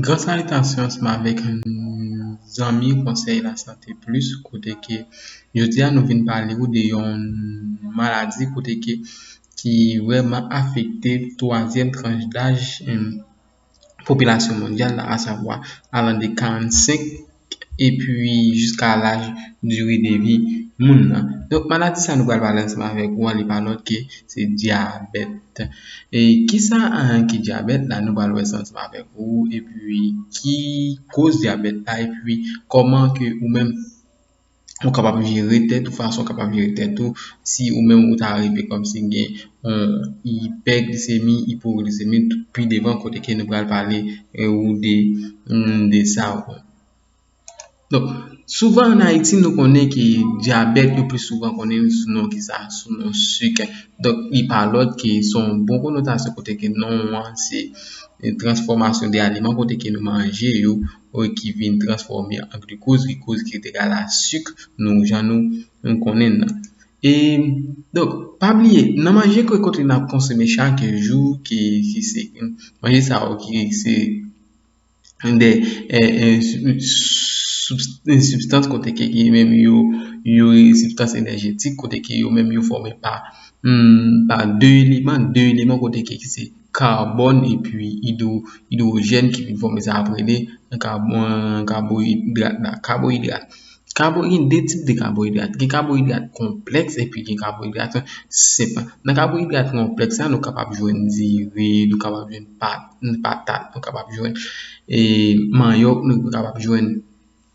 Gran salitasyon ansanm avèk zanmi konsèy lasante plis kote ke jodi a nou vin pale ou de yon maladi kote ke ki vrèman afekte twazyèm tranch daj popilasyon mondyal la asavwa alan de 45 epi jiska laj diri de vi moun nan donk maladi sa nou pral pale ansanm avèk ou an li pa lòt ke se dyabèt e kisa ki dyabèt la nou pral wè sa ansanm avèk ou epi ki koz dyabèt la epi kòman ke ou menm ou kapab jere tèt ou fason ou kapab jere tèt ou si ou menm ou ta rive kòmsi gen yon ipèglisemi, ipoglisemi pi devan kote ke nou pral pale ou de sa ou menm donk souvan an Ayiti nou konnen ke dyabèt nou pi souvan konnen li sou non kisa? sou non sik donk li pa lòt ke son bon konotasyon kote ke non an se transfòmasyon de aliman kote ke nou manje yo e ki vin transfòme an glikoz, glikoz ki te ka la suk nou jan nou konnen l lan. E donk pa bliye nan manje ke kote nap konsome chak jou ke ki se manje sa yo ki se de sibstans kote ke yo menm yo yo sibstans enèjetik kote ke yo menm yo fòme pa pa 2 eleman, 2 eleman kote ke ki se Karbòn epi idwojèn ki vin fòme sa y ap rele kaboyidrat la. Kaboyidrat Kaboyidrat Gen de tip de kaboyidrat. Gen kaboyidrat konplèks epi gen kaboyidrat senp. Nan kaboyidrat konplèks la, nou kapab jwenn diri, nou kapab jwenn patat, nou kapab jwenn manyòk, nou kapab jwenn.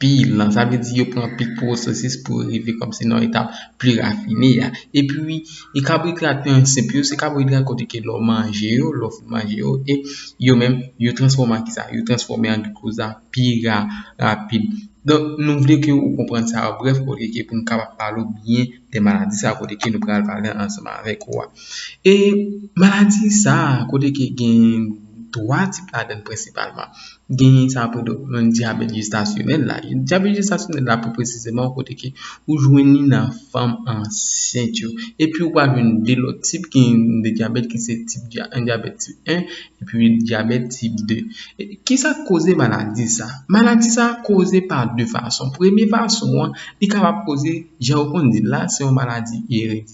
pil nan sa vle di yo pran pil pwosesis pou rive kòmsi nan etap pi rafine a epi e kaboidrat yo ansenp yo se kaboidrat kote ke lè w manje yo lè w fin manje yo e yo menm yo transfòme an kisa yo transfòme an glikoz a pi rapid donk nou vle ke ou konprann sa yo brèf olye ke pou nou kapab pale ou byen de maladi sa kote ke nou pral pale ansanman avèk ou a e maladi sa kote ke gen 3 tip ladann prensipalman Genyen sa pou yon dyabèt jestasyonèl la. Dyabèt jestasyonèl la pou presizeman kote ke ou jwenn li nan fanm ansent yo. Epi ou pral jwenn 2 lòt tip ki gen de dyabèt ki se tip dyabèt tip 1 epi dyabèt tip 2. Ki sa k koze maladi sa? Maladi sa koze pa 2 fason. Premye fason an, li kapab koze jan ou konn di l la se yon maladi eritye.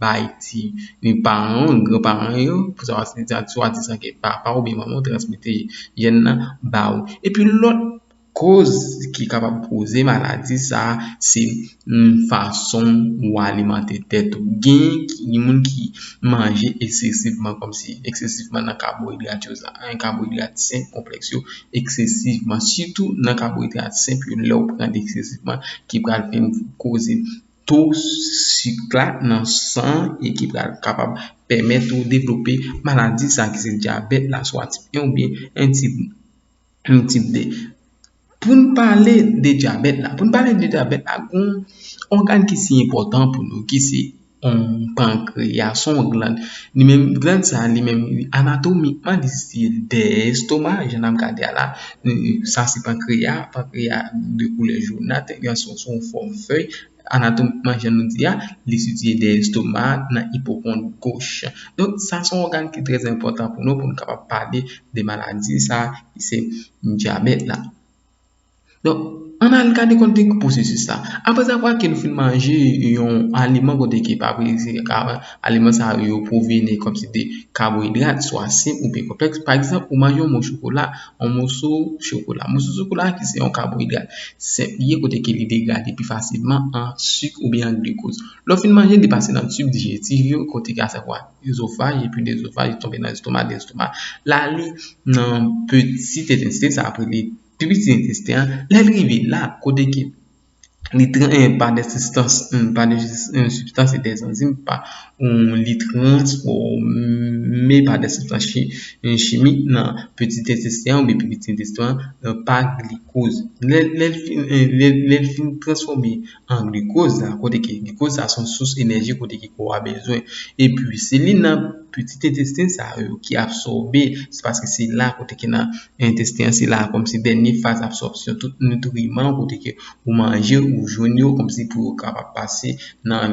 bay ti ni paran ou ni gran paran yo pou sa se ta swadizan ke papa oubyen manman ou transmete jèn nan ba ou epi lòt koz ki kapab koze maladi sa se fason ou alimante tèt ou gen moun ki manje eksesivman kòmsi eksesivman nan kaboidrat yo sa a kaboidrat senp konplèks yo eksesivman sitou nan kaboidrat senp yo lè ou pran li eksesivman ki pral vin koze to sik la nan san an e ki pral kapab pèmèt ou devlope maladi sa ki se dyabèt la swa tip 1 oubyen tip 2 pou n pale de dyabèt la pou n pale de dyabèt la gon ògàn ki si enpòtan pou nou ki se yon pankreya se yon glann li menm glann sa li menm anatomikman li site dèyè estoma jan n ap gade a la Sa se pankreya, pankreya de koulè jounat, gen son son fòm fèy, anatomikman jan nou di a, li sitiye dèyè estomak nan ipokont goch. Donk sa son ògàn ki trè enpòtan pou nou pou nou kapab pale de maladi sa ki se dyabèt la. Donk an n al gade kon ki pwosesis la. Aprèzavwa ke nou fin manje yon aliman kote ki pa prese. Aliman sa yo pwoveni kòmsi de kaboidrat, swa senp oubyen konplèks. Pa egzanp, ou manje yon mo chokola, yon moso chokola. Moso chokola ki se yon kaboidrat senp li ye kote ke li degrade pi fasilman an suk oubyen an glukoz. Lè w fin manje l, li pase nan tub dijetif yo kote ke asavwa ezofaj epi de ezofaj li tonbe nan lestomak, de lestomak l ale nan peti entesten sa yo rele piti entesten an. Lè l rive la kote ke li tran pa de sistans pa de sistans e de zanzim pa ou li trans fò me pa de sistans chimi nan peti de sistans ou bi peti de sistans nan pa li kouz le fin trans fò me an li kouz la kote ki li kouz la son sous enèji kote ki kò a bezwen e pi se li nan peti de sistans sa yo ki a fò be se paske se la kote ki nan Entesten an se la a kòmsi dènye faz absòpsyon tout nitriman kote ke ou manje ou jwenn yo kòmsi pou yo kapab pase nan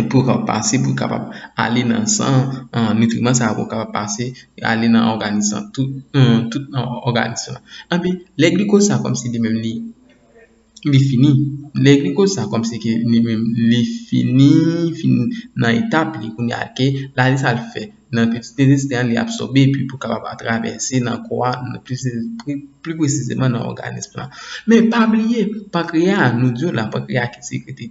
pou yo kapab pase pou yo kapab ale nan san an nitriman sa yo pou yo kapab pase ale nan òganis lan tout òganis lan anpi lè glikoz sa kòmsi li menm li li fini lè li koz sa kòm si ke li menm li fini fin nan etap li kounye a ke la li sa l fè nan plis dezistè li absòbe epi pou kapab a travèse nan kò a pli presizeman nan òganis la men pa bliye pankreya nou di w la pankreya ki sekrete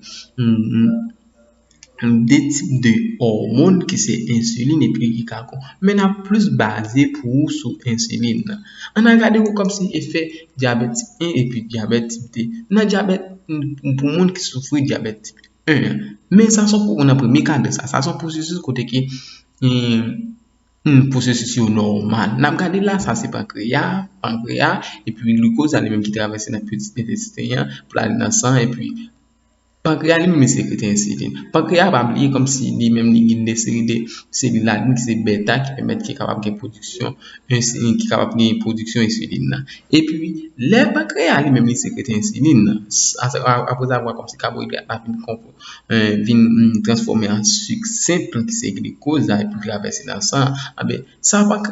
2 tip de òmon ki se ensilin epi ki ka kon men nap plis baze pou ou sou ensilin nan an al gade ou kòmsi efè dyabèt tip 1 epi dyabèt tip 2 nan dyabèt pou moun ki soufri dyabèt tip 1 an men sa se pou ou nan premye kad de sa sa se pwosesis kote ke pwosesis yo nòmal nap gade la sa se pankreya pankreya epi glikoz sa li menm ki travèse nan pitit entèsten an pou al nan san epi Pankrea li menm li sekrete ensilin. Pankrea a pa bliye kòmsi li menm li gen de seri de selil la menm ki se beta ki pèmèt ki kapab gen pwodiksyon ensilin ki kapab gen pwodiksyon ensilin nan. Epi, lè pankrea a li menm li sekrete ensilin nan, aprèzavwa kòmsi kaboidrat la fin konp, vin transfòme an sik senp ki se glikoz la epi travèse nan san an, anben, Sa pa k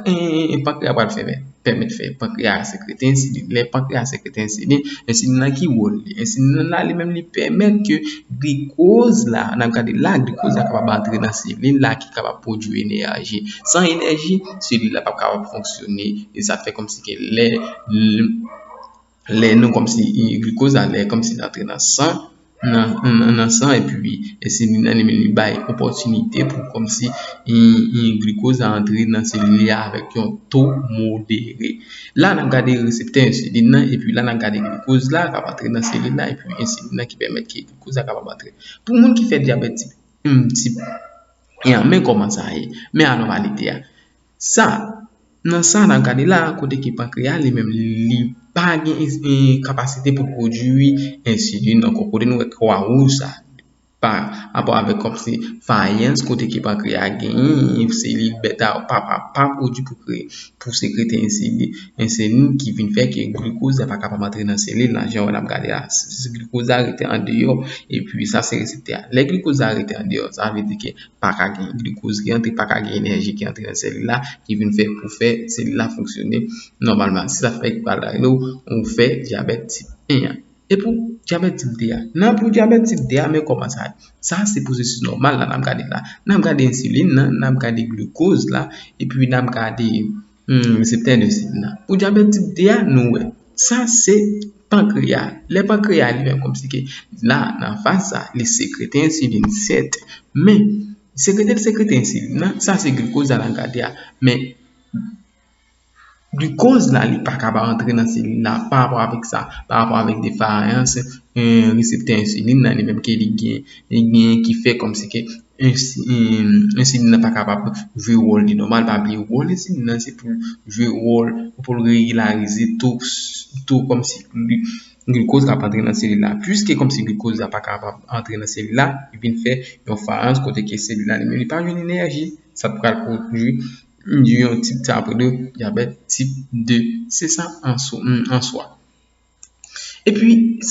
Pankreya pral fè pèmèt fè Pankreya a sekrete ensilin lè Pankreya a sekrete ensilin ensilin lan ki wòl li ensilin lan li menm li pèmèt ke glikoz la n ap gade la glikoz la kapab antre nan selil la ki kapab pwodui enèji san enèji selil la p ap kapab fonksyone e sa fè kòmsi ke lè lè nou kòmsi glikoz la lè kòmsi l antre nan san nan san epi ensilin nan li menm li bay opòtinite pou kòmsi glikoz la antre nan selil la avèk yon to modere la n ap gade reseptè ensilin nan epi la n ap gade glikoz la k ap antre nan selil la epi ensilin nan ki pèmèt ke glikoz la kapab antre pou moun ki fè dyabèt tip 1 men kòman sa ye men anòmalite a Sa, nan sa n ap gade la a, kote ke pankreya li menm li pa gen kapasite pou l pwodui ensilin ankò, kote nou wè kwa wouj sa a, pa rapò avèk kòmsi fayans kote ke pankreya genyen selil bèta yo pa pwodui pou sekrete ensilin ki vin fè ke glikoz la pa kapab antre nan selil la jan wè n ap gade la a. Glikoz la rete andeyò epi sa se reseptè a. Lè glikoz la rete andeyò sa vle di ke pa ka gen glikoz ki antre, pa ka gen enèji ki antre nan sèlil la ki vin fè pou fè sèlil la fonksyone nòmalman. Se sa fè yo pral rele w ou fè dyabèt tip 1 an. E pou dyabèt tip 2 a? Nan pou dyabèt tip 2 a men kòman sa ye. Sa a se pwosesis nòmal la n ap gade la. N ap gade ensilin nan, n ap gade glikoz la epi n ap gade Humm reseptè de sid la pou dyabèt tip 2 a nou wè sa se pankreya lè pankreya li menm kòmsi ke la nan faz sa li sekrete ensilin sèt men sekrete l sekrete ensilin nan sa se glikoz la nan gade a men glikoz la li pa kaba antre nan selil la pa rapò avèk sa pa rapò avèk defayans reseptè ensilin nan li menm ke li gen li gen ki fè kòmsi ke Ensilin nan pa kapab jwe wòl li nòmal pa bliye wòl ensilin nan se poul jwe wòl poul regilarize to kòmsi glikoz kap antre nan selil la pwiske kòmsi glikoz la pa kapab antre nan selil la li vin fè yon farans kote ke selil la li menm li pa jwenn enèji sa pral pwodwi yon tip sa pwodwi dyabèt tip 2 se sa answa Epi,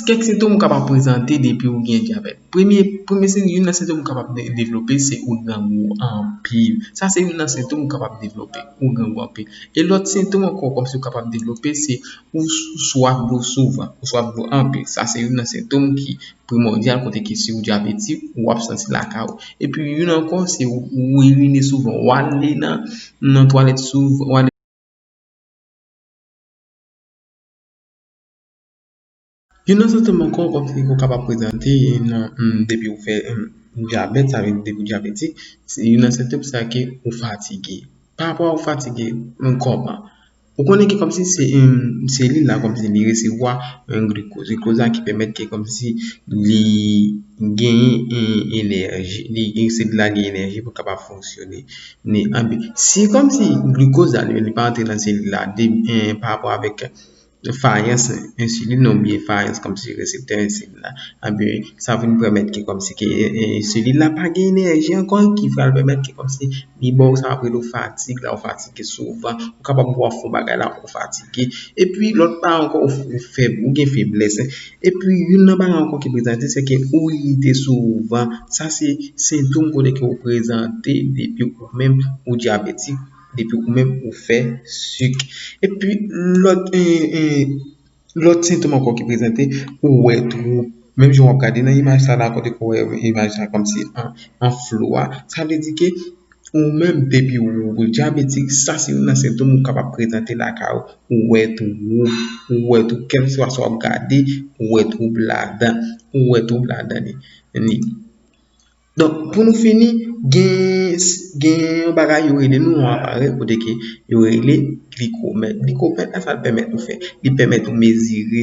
kèk sentom ou kapab prezante depi ou gen dyabèt. Premye, premye sentom, youn nan sentom ou kapab devlope se ou grangou anpil. Sa se youn nan sentom ou kapab devlope, ou grangou anpil. E lòt sentom ankò kòmsi ou kapab devlope se ou swaf dlo souvan, ou swaf dlo anpil. Sa se youn nan sentom ki primòdyal kote ke si ou dyabetik, ou ap santi l lakay ou. Epi, youn ankò se ou irine souvan, ou ale nan twalèt souvan, ou ale. Youn nan sentòm ankò kòm si ou kapab prezante depi ou fè dyabèt sa vle di depi ou dyabetik se youn nan sentòm sa ke ou fatige pa rapò a ou fatige nan kò pa ou konnen ki kòm si se yon selil la kòm si li resevwa yon glikoz glikoz la ki pèmèt ke kòm si li genyen yon enèji li selil la genyen enèji pou l kapab fonksyone Ni anpi si kòm si glucose la li pa antre nan selil la de pa rapò avèk fayans ensilin nan oubyen fayans kòm si reseptè ensilin nan anpi sa vin pèmèt ki kòm si ki ensilin nan pa gen enèji ankò ki pral pèmèt ki kòm si li baw sa yo rele fatig la ou fatige souvan ou kapab wè ou fè yon bagay la ou fatige epi lòt pa ankò ou fèb ou gen feblès Epi youn nan bagay ankò ki prezante se ke ou irite souvan. Sa se sentom kote ke ou prezante depi ou menm ou dyabetik, depi ou menm ou fè sik. Epi lòt lòt sentom ankò ki prezante ou wè twou. Menm jan w'ap gade nan imaj sa la kote ke ou wè imaj sa kòmsi an flou a. Sa vle di ke Ou menm depi ou ou dyabetik sa se youn nan sentom ou kapab prezante lakay ou, ou wè twou, ou wè twou kèlkeswa sa wap gade ou wè twou ladan, ou wè twou ladan li. Donk pou nou fini gen yon bagay yo rele nou yon aparèy kote ke yo rele glikòmèt, glikòmèt la sa l pèmèt nou fè, li pèmèt nou mezire.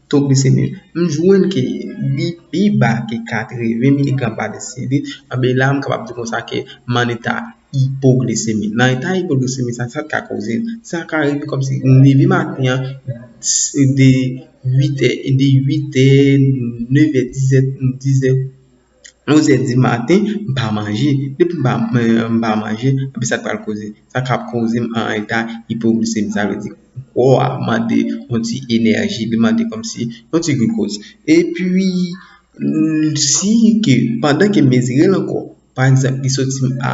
To glisemi m jwenn ke li pi ba ke 80 miligram pa desililitre, anben la m kapab di konsa ke m an eta ipoglisemi. Nan eta ipoglisemi sa, sa ka koze l? Sa ka rive kòmsi m leve maten an de 8 è, de 8 è, 9 è, 10 è, 10 è. 11 è di maten m pa manje depi m pa manje epi sa k pral koze sa ka koze m an eta ipoglisemi sa vle di kò a mande yon ti enèji li mande kòmsi yon ti glikoz epi si ke pandan ke m mezire l ankò pa egzanp li soti m a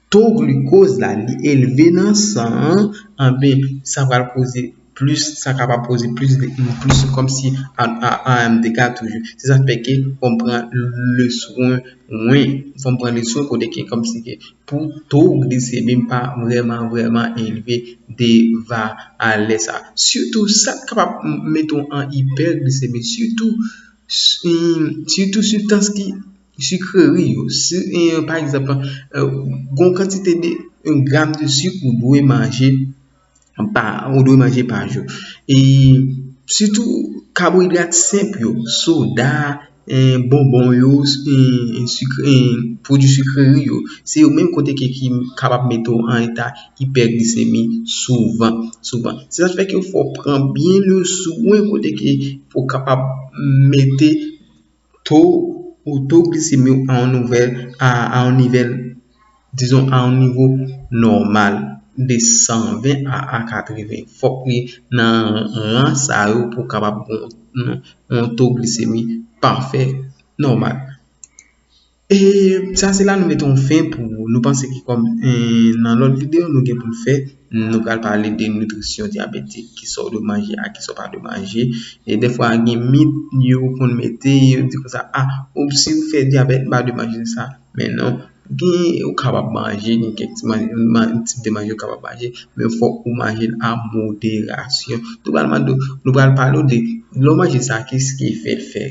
to glucose la li elve nan san an anben sa pral koze plis sa kapab koze plis plis kòmsi anm dega toujou se sa k fè ke fòm pran le swen mwen fòm pran le swen kote ke kòmsi ke pou to glisemi m pa vrèman vrèman elve deva alè sa sitou sa k kapab mete w an ipèglisemi sitou sitou sibstans ki Sucrerie yo, pa egzanp, gon kantite de gram de sik ou dwe manje pa jou. E sitou kaboidrat senp yo, soda, bonbon yo, pwodui sucrerie yo, se yo menm kote ke ki kapab mete w an eta ipèglisemi souvan. Se sa ki fè ke fò pran byen le swen kote ke pou kapab mete. to ou to glisemi w a yon nouvèl a yon nivèl dizon a yon nivo nòmal de 120 a a 80 fòk li nan ran sa yo pou kapab yon to glisemi pafè nòmal E sa se la nou mete yon fen pou nou panse ki kòm nan lòt videyo nou gen pou n fè nou pral pale de nitrisyon dyabetik ki sa w dwe manje ak ki sa w pa dwe manje e defwa gen mit yo konn mete yo di konsa a ou si ou fè dyabèt ou pa dwe manje sa men non gen ou kapab manje gen kèk ti manje gen tip de manje ou kapab manje men fòk ou manje l a moderasyon nou pral mande w nou pral pale w de lè w manje sa kis ki efè l fè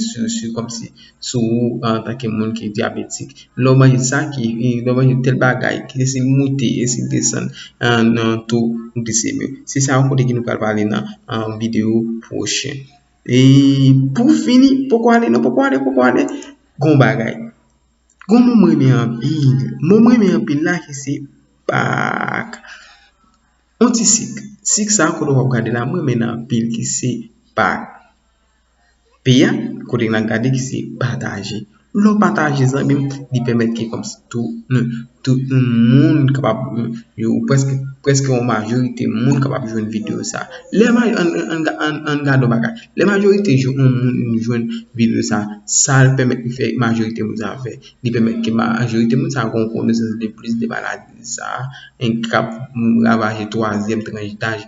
sou kòmsi sou ou antanke moun ki dyabetik. Lè w manje sa ki, lè w manje tèl bagay ki te sibi moute, e sibi desann nan taux glycémique ou. Se sa yon kote ki nou pral pale nan videyo pwochen. E pou fini, poko ale non, poko ale, poko ale, gon bagay. Gon mo m renmen anpil. Mo m renmen anpil la ki se pak. On ti sik. Sik sa kote w ap gade la m renmen l anpil ki se pak. P a, kote nan gade ki se pataje. Lè w pataje zanmi m, li pèmèt ke kòm si tou nou, tout yon moun kapab, yon prèske, prèske yon majorite moun kapab jwenn videyo sa. Lè maj, an, an, an, an gade yon bagay. Lè majorite jou yon moun jwenn videyo sa, sa l pèmèt li fè majorite moun sa fè. Li pèmèt ke majorite moun sa gen yon konesans de plis de maladi sa, en kap ravaje twazyèm tranch daj.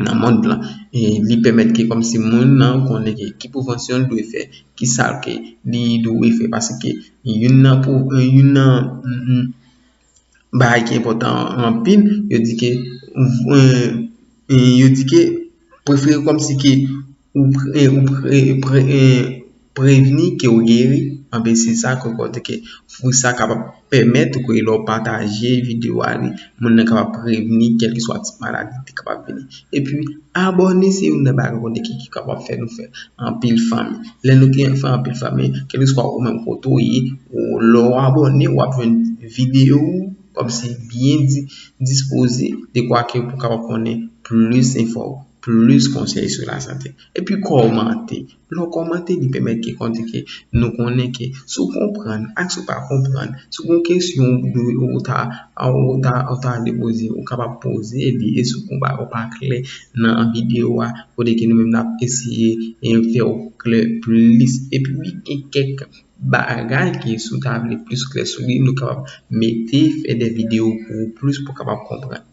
nan mond lan e li pèmèt ke kòmsi moun nan konnen ke ki prevansyon l dwe fè ki sa ke li dwe fè paske youn nan pou youn nan bagay ki enpòtan anpil yo di ke yo di ke prefere kòmsi ke ou pre ou pre Prevni ke ou geri, anben se sa ke ou konte ke pou sa kapab pèmèt ou ke lè ou pataje video a li, moun nan kapab prevni kèlkeswa tip maladi ki kapab vini. Epi abòne se youn nan bagay konte ki kapab fè nou fè anpil fanmi. Lè nou gen fè anpil fanmi, kèlkeswa ou menm kote ou ye, ou lè ou abòne wap jwenn video ou kòmsi byen di dispoze dekwa ke pou kapab konnen plis enfò, plis konsèy sou lasante. Epi kòmante, Lè w kòmante li pèmèt ke kondi ke nou konnen ke si w konprann ak si w pa konprann, si gon kesyon ou ta ou ta ou ta vle poze ou kapab poze li e si w gen yon bagay ou pa klè nan videyo a kote ke nou menm nap eseye fè w klè plis epi pi gen kèk bagay ke si w ta vle plis klè sou li nou kapab mete fè de videyo pou ou plis pou w kapab konprann.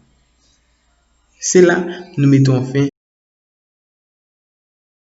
Se la nou mete yon fen.